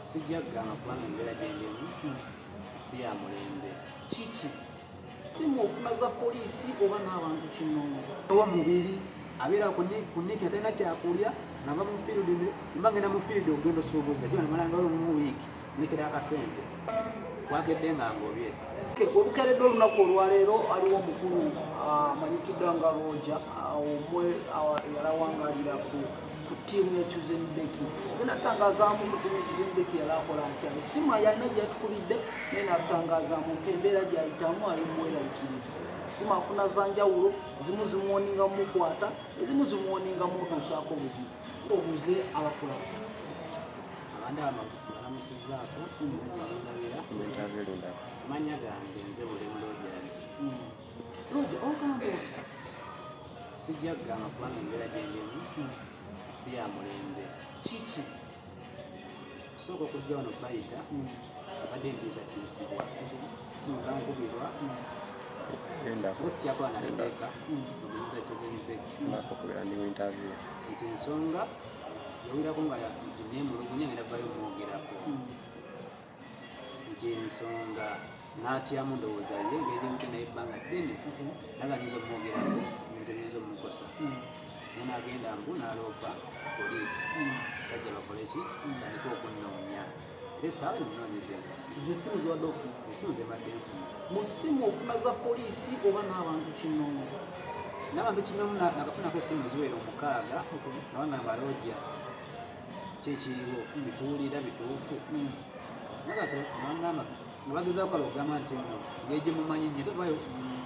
sijja kugamba kubanga embeera gyendemu si ya mulembe kiki si mu nfuna za poliisi oba n'abantu kinoomu owa mubiri abeera kuniki atalina kyakulya nava mu field mba ngenda mu field okugenda osuubuza gyo namalanga olo mu wiiki nekera akasente wakedde nga ngobye olukeredde olunaku olwaleero aliwo omukulu ah, amanyikidwa nga roja ah, omwe ah, yalawangalira ku ku ttiimu ya Chuzen Becky naye natangazaamu ku ttiimu ya Chuzen Becky yali akola atya essimu ayalina gyatukubidde naye natangazaamu nti embeera gyayitamu ali muweralikirivu essimu afuna zanjawulo zimu zimuwoninga mumukwata ezimu zimuwoninga mutuusaako obuzibu obuze abakola abandi abalamusizaako mutabeera manya gange nze buli mulojasi hmm. Luja ogamba otya? Sijja kugamba kubanga embeera gyendemu hmm. si ya mulembe. Kiki? Kusooka okujja wano bayita hmm. abadde ntiisakiisibwa simuga nkubirwa sikyakola na rebeka mugemutatozenibekiokubera ndi muinterview nti ensonga yawirako nga nti nemulugunya ngenda vayo mwogerako nti ensonga n'atyamu ndowooza ye ngeri mute naye ebbanga ddene mhm. naga nyinza okumwogerako ebintu ebiyinza omukosa mhm. naye nagenda mbu naloopa poliisi mhm. sajja bakole ki tandika okunoonya era esaawa eno munoonyeze zisimu ziwadde ofuna esimu zebadde nfuna mu simu ofuna za poliisi oba n'abantu kinoomu n'abantu kinoomu nakafunako esimu ziwera omukaaga nabangamba looja kyekiriwo bituwulira bituufu nagato nangamba nga bagezaako kala okugamba nti no yeje mumanyi nyo tevayo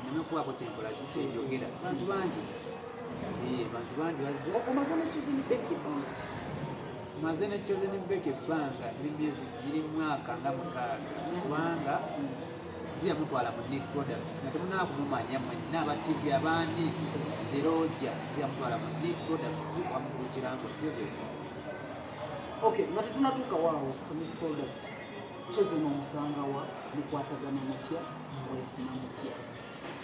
neme kubaako kyenkola kyenjogera bantu bangi bantu bangi bazze omaze nekyozini beki bangi maze nekyozini beki ebbanga eri myezi biri mwaka nga mukaaga kubanga ziya mutwala mu Nick Products nga temunaba kumumanya mwenna aba TV abandi ziroja ziya mutwala mu Nick Products wamukulu kirango Joseph okay nga tetunatuuka waawo ku Nick Products chosen omusanga wa mukwatagana mutya mwefuna mutya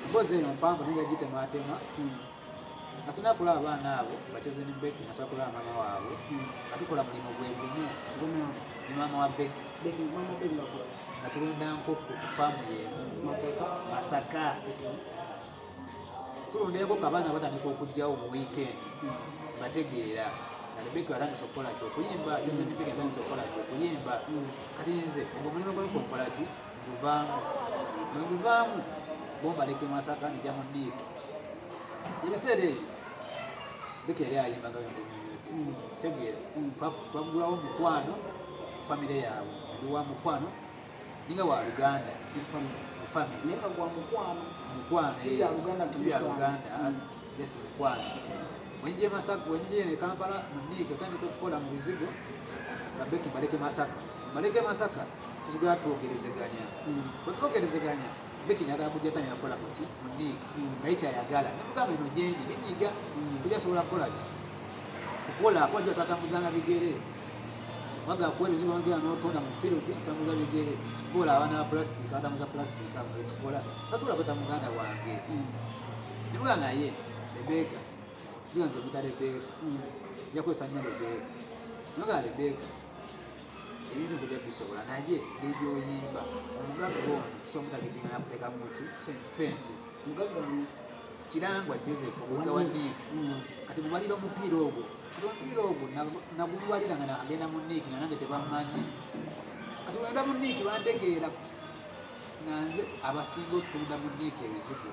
mbozi eno mpanvu naye yagitemaatema hmm. Nasana kula abaana abo bacoze ne Becky nasana kula mama wabo hmm. atukola mulimu gwe gumu gumu ni mama wa Becky Becky mama Becky wako natulunda nkoko ku famu ye Masaka Masaka tulunda nkoko abaana batandika okujjawo mu weekend hmm. bategeera kati Becky atandise okukola ki okuyimba Joseph Becky atandise okukola ki okuyimba hmm. kati nze ogwo mulimu gwe nkola ki luvaamu bwe luvaamu bombaleka emasaka ne jamu diiki ebiseera ebyo bikere ayimbaga segera hmm. twagulawo mukwano famire yaabwe ndi wa mukwano ninga wa luganda wenjije masaka wenjije ne kampala muniike otandika okukola mu bizigo babeki baleke masaka baleke masaka tusigala twogerezeganya bwe twogerezeganya beki nagala kujja tanya yakola kuki mu diiki naye kyayagala nemugamba eno gyendi binyiga kuja asobola kukola ki kukola kwaja tatambuzanga bigere wagala kuwa ebizibu wangera notonda mu field tambuza bigere kola abaana ba plastic atambuza plastic abo betukola tasobola kweta muganda wange nemugamba naye rebeka tuganze omuta rebeka njakozesa nnyo rebeka nemugamba rebeka ebintu tujja bisobola naye nebyoyimba omugagga ono kisomutabitinya nakuteka muki sente kirangwa joseph omugga wa nik mm. kati mubalira omupiira ogwo kati omupiira ogwo nagubalira nga nagenda mu nik nga nange tebamanyi kati wenda mu nik bantegeera nga nze abasinga otunda mu nik ebizibu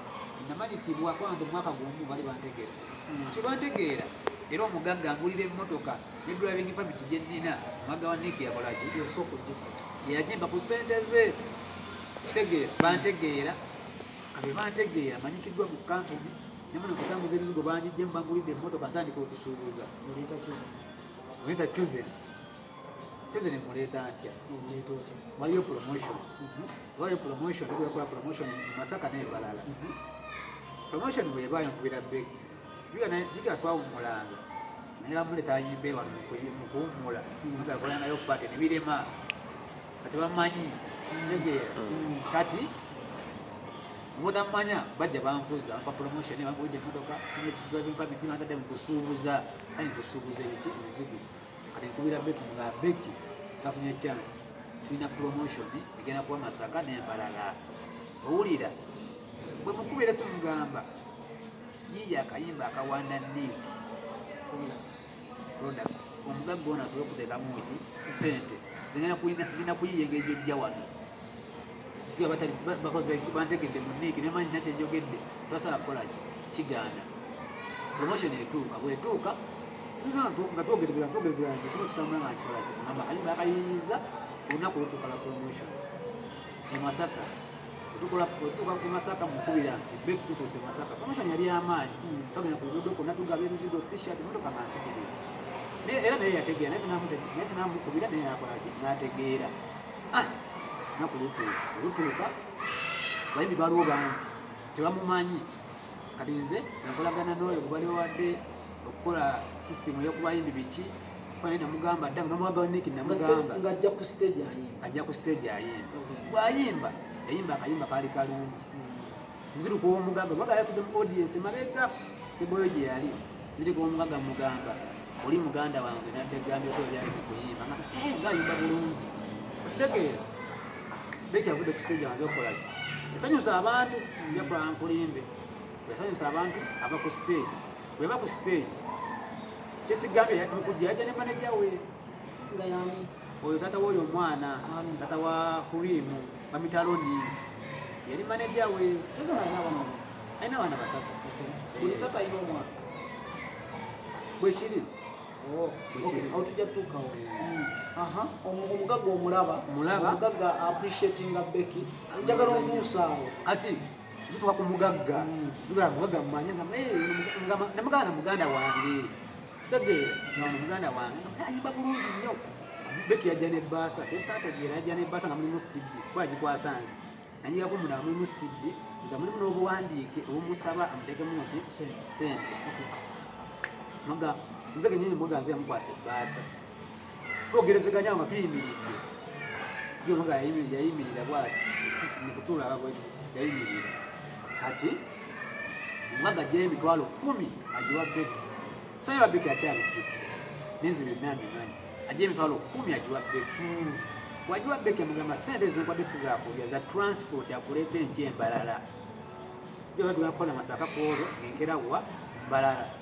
namanyikibwa kwanze omwaka gumu bali bantegeera mm. kyebantegeera era omugagga ngulira emmotoka ne driving permit gye nnina mwaga wa nick yakola ki yagimba ku ssente ze kitegeera bantegeera kabe bantegeera manyikiddwa mu kampuni nemuli kutambuza ebizigo banjijje mbangulidde emmotoka ntandika okusuubuza muleta chosen chosen muleeta ntya waliyo promotion mhm. waliyo promotion kuyakola promotion masaka nebalala mhm. promotion bwebayo nkubira beki twawummulanga naye bamule tayimba ewa mu kuwummula nga akola nayo bate ne birema kati bamanyi ntegeera kati mutamanya bajja bankuza mpa promotion bambuja emotoka driving permit bantadde mu kusuubuza kani kusuubuza ebiki ebizibu kati nkubira beki nga beki tafunye chance tulina promotion egenda kuba masaka nembalala owulira bwe mukubira simugamba Yiiya akayimba akawanda Nick products omugagga ono asobole okuteekamu ki ssente zigenda kuyiya engeri gyojja wano bantegedde mu Nick ne manyi nakyo enjogedde tasobola kukola ki kigaana promotion etuuka bwetuuka nga twogerezera twogerezera nti kino kitambula nga kikola kiti namba kayimba akayiyiza olunaku olutuuka la promotion emasaka tukola kutuuka ku masaka mukubira beki tutuuse masaka promotion yali amaanyi hmm. tugenda ku luguudo kwonna tugaba emizigo t-shirt motoka nga mpitirivu era naye yategeera naye naye sinamukubira naye nakolaki nategeera ah, naku lutuuka olutuuka bayimbi baliwo bangi tebamumanyi kati nze nakolagana n'oyo gubali bawadde okukola sisitemu eyokubayimbi biki bane namugamba dda nga nomwagala niki namugamba nga ajja ku stage ayimba ajja ku stage ayimba bwayimba yayimba akayimba kaali kalungi hmm. nziru kuwomugaga mwaga yatude mu audience mabega teboyo gye yali nziri kuwomugaga mugamba oli muganda wange nadde gambye ko yali mu kuyimba nga eh, ngayimba bulungi okitegeera beki avude ku stage amaze okukola ki yasanyusa abantu nja kulankulimbe yasanyusa abantu ava ku stage bweba ku stage kyesigambye mukujja yajja ne maneja we oyo tata woyo omwana tata wa kurimu bamitaloni yali maneja we alina abaana basatu bwekiri tujja tutuukawo omugagga omulaba omugagga appreciatinga beki njagala otuusaawo kati tutuka ku mugagga tugala mugagga mumanya namuganda muganda wange kitegeera nga muganda wange ayimba bulungi nnyo beki yajja ne baasa tesaategeera yajja ne baasa nga mulimu sibbi kuba agikwasanze nanyigako muna mulimu sibbi nga mulimu n'obuwandiike obumusaba amutekemu nti sente nze kenyini muganze yamukwasa ebbaasa twogerezeganya nga tuyimiridde yono nga yayimirira bwati mukutulaba bweti yayimirira kati omugaga ajjayo emitwalo kumi agiwa beki simanyi babeki akyabijju nenzi byonna mbimanyi ajjayo emitwalo kumi agiwa beki wagiwa beki amugamba sente ezinkwade sizakulya za transport akuleeta enky embalala jobatugakola masaka kwolwo enkera wa mbalala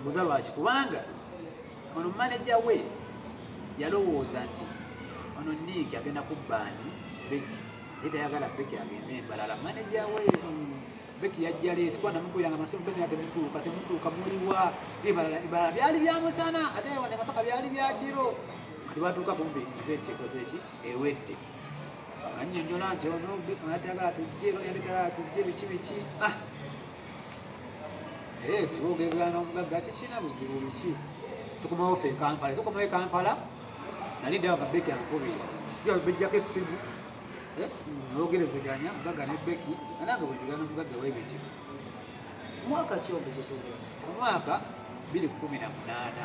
mbuza lwaki kubanga ono maneja we yalowooza nti ono niiki agenda kubbaani beki ye tayagala beki agende embalala maneja we beki yajja leeti kuba namukubira nga masimu beki temutuuka temutuuka muliwa ebalala ebalala byali bya musana ate wane masaka byali bya kiro kati batuuka kumbi eventi ekoze ki ewedde anyonyola nti ono beki atayagala tujje yalekala tujje biki biki ah Eh, twogezera n'omugagga tekirina buzibu biki tukomawo fe ekampala tukomawo ekampala nali ddawo nga beki ankubira tuja bejjako essimu eh, nogerezeganya mugagga ne beki nanange bwejugera nomugagga webityo mwaka ki ogwo omwaka biri kumi na munaana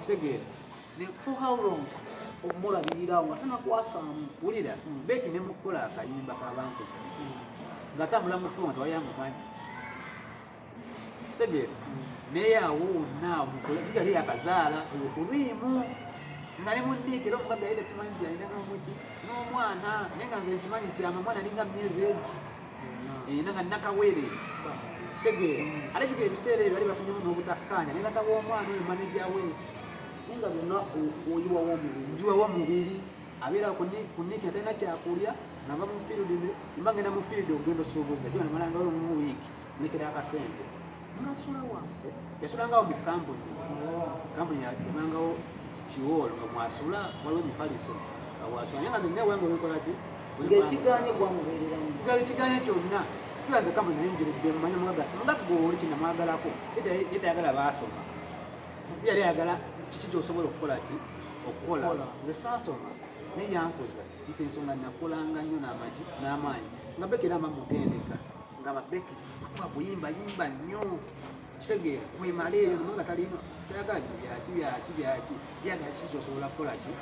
kitegeera ne for how long okumulabirira nga tanakwasaamu wulira hmm. beki ne mukukola akayimba kabankuza hmm. nga tambula mukuwa nti wayamumanyi kitegeera hmm. naye awo wonna mukolegali yakazaala olukuriimu nga ne mundiikira omugaga yeda kimanyi nti alina n'omuki n'omwana naye nga nze nkimanyi kyama mwana alinga myezi egi eh, nanga nakawere segere mm. ate kiko ebiseera ebyo bali bafunyemu n'obutakkaanya ne tata w'omwana oyo maneja we naye nga byonna oyiwawo omubiri njiwawo omubiri abeera kuniki atalina kyakulya nava mu field mba ngenda mu field ogenda osuubuza gyo namalanga omu wiiki nekera akasente yasulangao mu kampuni kampuni yabangao kiwoolo nga mwasula waliwo mufaliso nga wasula naye nga nze naye wange olikola ki ngekiganye gwamuberera nga ekiganye kyonna tuyaze kampuni naye njiridde mumanya mwaga mugati gwe oli kina mwagalako yetayagala baasoma yali ayagala kiki kyosobola okukola ki okukola nze saasoma naye yankuza nti ensonga nakolanga nnyo n'amagi n'amaanyi nga bekera mba mutendeka nga babeki bakuyimba yimba nnyo kitegeera kwemala eyo numa nga talina tayagala bino byaki byaki byaki yagala kiki kyosobola kukola ki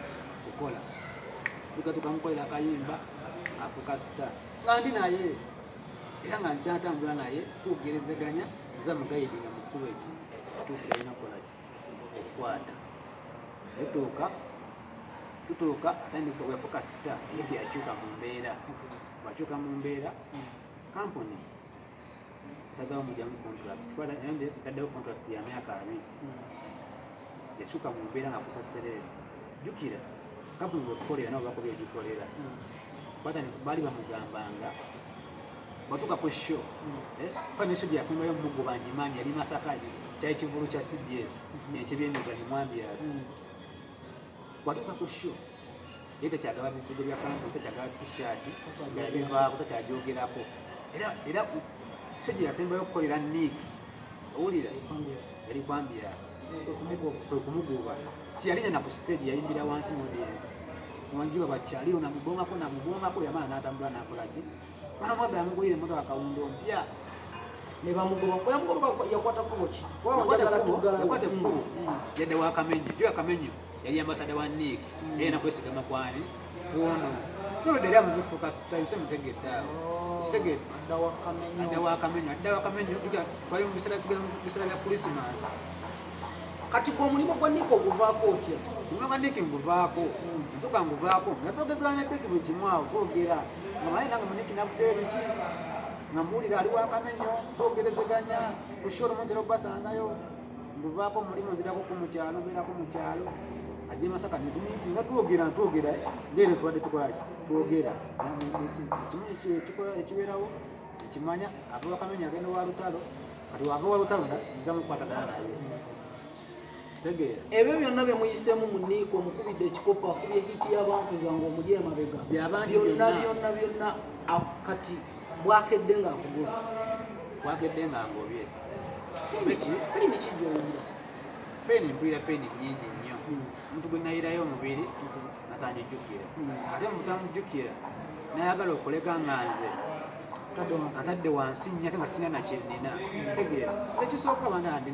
kukola tugatukamukolera akayimba afuka sita nga ndi naye era nga nkyatambula naye tugerezeganya nza mugayidi nga mukulu eki tuufu yalina kukola ki okukwata tutuuka tutuuka atandika wefuka sita eyo teyakyuka mu mbeera wakyuka mu mbeera kampuni sazawo mujamu contract kubanga naye nze ntaddewo contract ya myaka abiri yasuka mu mbeera nga fusa sereere jjukira kampuni bwekukolera nabo bakoba egikolera kubanga ne- baali bamugambanga batuuka ku sho kuba ne sho gye yasembayo omugu bangimanyi yali masaka kyali kivulu kya cbs Mhm. kyekyebyenyiza bimwambiasi bwatuuka ku sho naye takyagaba bizigo bya kampuni takyagaba t-shirt yabivaako takyagyogerako era era sejja yasembayo okukolera nick owulira yali kwambias kwe kumugoba tiyalinga na ku stage yayimbira wansi mudensi wanjuba bakyaliyo namubongako namubongako yamala natambula nakolaki ana mwaga yamugulire emotoka kawundo mpya nebamugobayakwata kubo ki yakwata ekkubo yadde wakamenyo jo yakamenyo yali ambasada wa nik mm. era nakwesigama kwani kwono nolwedde era muzifuuka tayise mutegedde awo oh, kitegedde adda wakamenyo adda wakamenyo twali mu biseera tugenda mu biseera bya krisimansi kati gwe omulimu gwa nik oguvaako otya omulimu gwa nik nguvaako mm. ntuka nguvaako nga twogezana ne beki buli kimu awo twogera nga manye nange muniki nakuteyo biki nga muwulira ali wakamenyo twogerezeganya kushora omuntu era okubasangayo nduvaako mulimu nzirako ku mukyalo mbeerako mu kyalo ajje masaka netumiti nga twogera ntwogera ndeero tubadde tukolaki twogera ekimu ekibeerawo ekimanya ava wakamenya agenda wa lutalo kati wava wa lutalo nza mukwatagana naye kitegeera ebyo byonna bye muyisemu mu niiko mukubidde ekikopo akubye hiti y'abantu zange omuli emabega byonna byonna byonna kati bwakedde ng'akugula bwakedde ng'angobye peni mpulira peni nyingi nnyo hmm. omuntu gwe nayirayo omubiri natandijjukira hmm. ate mutamujjukira nayagala okulega nga nze atadde wansi nnyo ate nga sina nakyenina hmm. kitegeera ekisooka banandi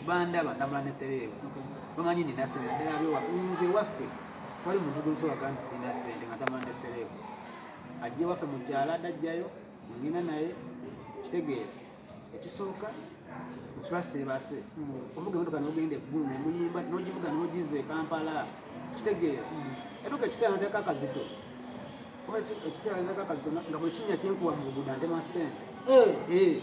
bandaba ndamula nesereebu bamanyi nina sente ddala byowafe nze waffe twali muntu gwensobola kandi sina sente nga tamula nesereebu ajje waffe mukyala adajjayo ngina naye kitegeera ekisooka nsula seebase hmm. ovuga emotoka nogenda eggulu nemuyimba nogivuga nogiza ekampala kitegeera hmm. emotoka ekiseera nateka akazito ekiseera nateka akazito nga buli kinya kyenkuwa mu buguda ntema sente eh. Eh.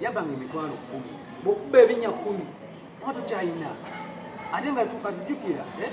yabanga emitwalo kumi bwokuba ebinya kumi oba tukyayina ate nga tukatujukira eh?